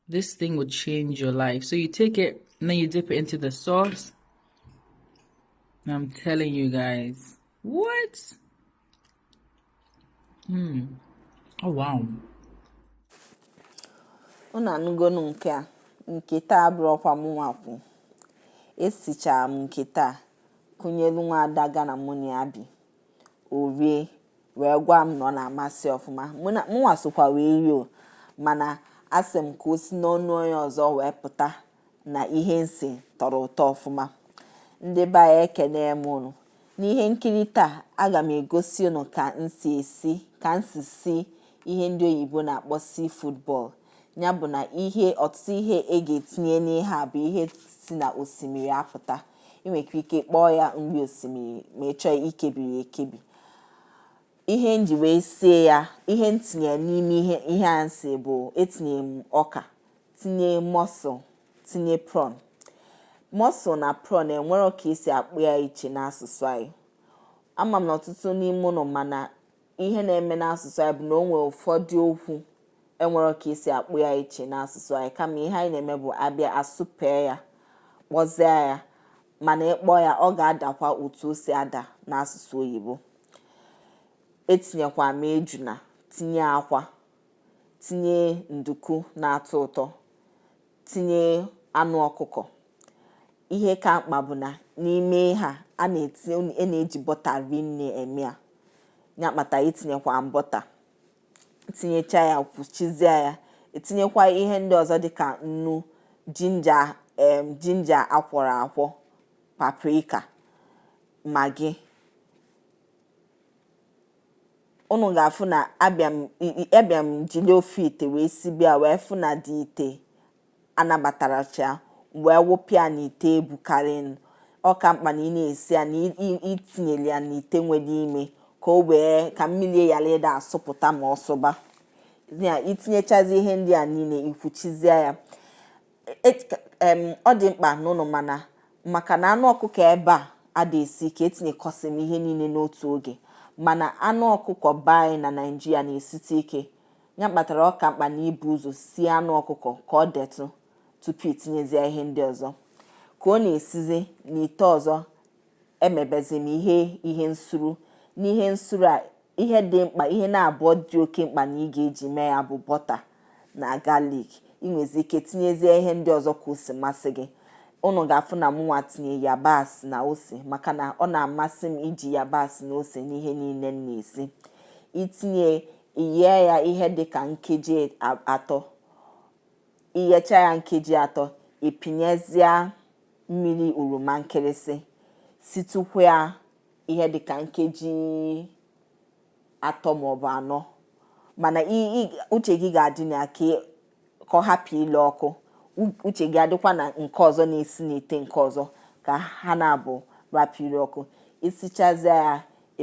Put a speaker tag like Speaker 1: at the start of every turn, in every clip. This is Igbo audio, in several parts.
Speaker 1: This thing will change your life. So you take it and then you dip it into the sauce. And I'm telling you guys. What? Hmm. Oh
Speaker 2: wow. Unu anụgonu nke a nke taa abụrọkwa mụnwa kwu esichara m nke taa kụnyelu nwa ada Ghana mụ na ya bi o rie wee gwa m na ọ na-amasị ọfụma mụnwa sokwa wee rie o mana asị m ka o si n'ọnụ onye ọzọ wee pụta na ihe m si tọrọ ụtọ ọfụma ndị be anyị ekene m unu n'ihe nkiri taa aga m egosi unu ka m si si ihe ndị oyibo na-akpọ seafood boil ya bụ na ihe ọtụtụ ihe e ga-etinye n'ihe a bụ ihe si na osimiri apụta ị nwekwa ike kpọọ ya nri osimiri ma ị chọọ ikebiri ekebi ihe m ji wee sie ya ihe m tinye n'ime ihe a m si bụ etinye m ọka tinye mussel tinye prawn mussel na prawn enwerọ ka esi akpọ ya iche n'asụsụ anyị ama m na ọtụtụ n'ime unu ma na ihe na-eme n'asụsụ anyị bụ na o nwere ụfọdụ okwu enwerọ ka esi akpọ ya iche n'asụsụ anyị kama ihe anyị na-eme bụ abịa asụpee ya kpọzie ya mana ịkpọ ya ọ ga-adakwa otu o si ada n'asụsụ oyibo etinyekwa m ejuna tinye akwa tinye nduku na-atọ ụtọ tinye anụ ọkụkọ ihe ka mkpa bụ na n'ime ha a na-eji bọta rinne eme ya ya kpata itinyekwa bọta tinyecha ya kwuchizie ya etinyekwa ihe ndị ọzọ dịka nnu jinja akwọrọ akwọ paprika Maggi unu ga-afụ na abịa m jiri ofu ite wee sibe ya wee fụ na the ite anabatarọcha wee wụpụ ya n'ite bukarịnụ ọ ka mkpa na ị na-esi ya na itinyere ya n'ite nwere ime ka o wee ka mmiri ghara ịda asụpụta ma ọ sụba ya itinyechazi ihe ndị a niile ikwuchizie ya ọ dị mkpa na unu ma na maka na anụ ọkụkọ ebe a ada esi ike etinyekọsị m ihe niile n'otu oge mana anụ ọkụkọ be anyị na Naịjirịa na-esite ike ya kpatara ọ ka mkpa na ibu ụzọ sie anụ ọkụkọ ka o detụ tupu itinyezie ihe ndị ọzọ ka ọ na-esizi n'ite ọzọ emebezi m ihe nsuru n'ihe nsuru a ihe dị mkpa ihe naabọ dị oke mkpa na ị ga-eji mee ya bụ bọta na galik ị nwezi ike tinyezie ihe ndị ọzọ ka o si masị gị unu ga-afụ na mụnwa tinye yabasị na ose maka na ọ na-amasị m iji yabasị na ose n'ihe niile m na-esi itinye Iyee ya ihe dị ka nkeji e, atọ. Iyecha ya nkeji atọ, ịpịnyezịa mmiri oroma nkịrịsị situkwa ya ihe dị ka nkeji atọ maọbụ anọ mana uche gị ga-adị na ya ka ka ọ hapụ ile ọkụ uche gị adịkwa na nke ọzọ na-esi n'ite nke ọzọ ka ha naabọ rapụ ile ọkụ isichazie ya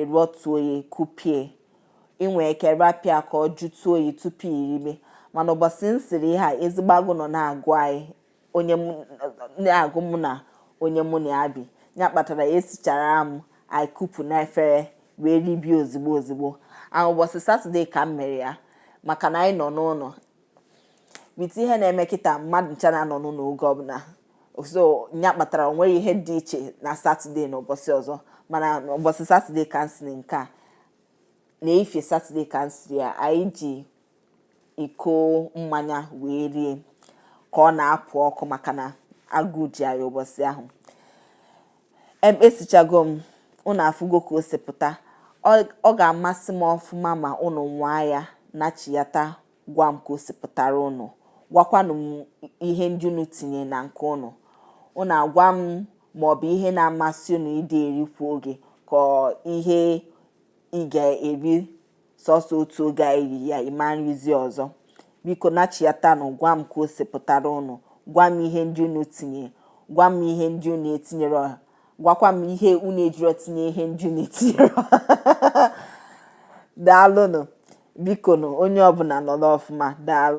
Speaker 2: ịrọtuo ya kupie inwe ike rapụ ya ka ọ jụtụ oyi tupu iribe mana ụbọchị m siri ihe a ezigbo agụụ nọ na-agụ anyị na-agụ mụ na onye mụ na ya bi ya kpatara ya esichara m anyị kupu na efere wee ribie ozigbo ozigbo ahụ ụbọchị satọde ka m mere ya maka na anyị nọ n'ụlọ with ihe na-eme kịta mmadụ ncha na-anọ n'ụlọ oge ọbụla so ya kpatara o nwerọ ihe dị iche na satọde na ụbọchị ọzọ mana ụbọchị satọde ka m siri nke a na ife satọde ka m siri ya anyị ji iko mmanya wee rie ka ọ na-apụ ọkụ maka na agụụ ji anyị ụbọchị ahụ esichago m ụnụ afụgo ka o si pụta ọ ga-amasị m ọfụma ma ụnụ nwaa ya nachiyata gwa m ka o si pụtara ụnụ gwakwanụ m ihe ndị unu tinye na nke ụnụ ụnụ agwa m ma ọ bụ ihe na-amasị unu ịdị eri kwa oge ka ihe ị ga-eri sọsọ otu oge a iri ya ịma erizi ọzọ biko nachiyatanụ gwa m ka o si pụtara ụnụ gwa m ihe ndị unu tinye gwa m ihe ndị unu etinyerọ gwakwa m ihe unu ejirọ tinye ihe ndị unu etinyerọ daalụnụ bikonụ onye ọbụla nọrọ ọfụma daalụ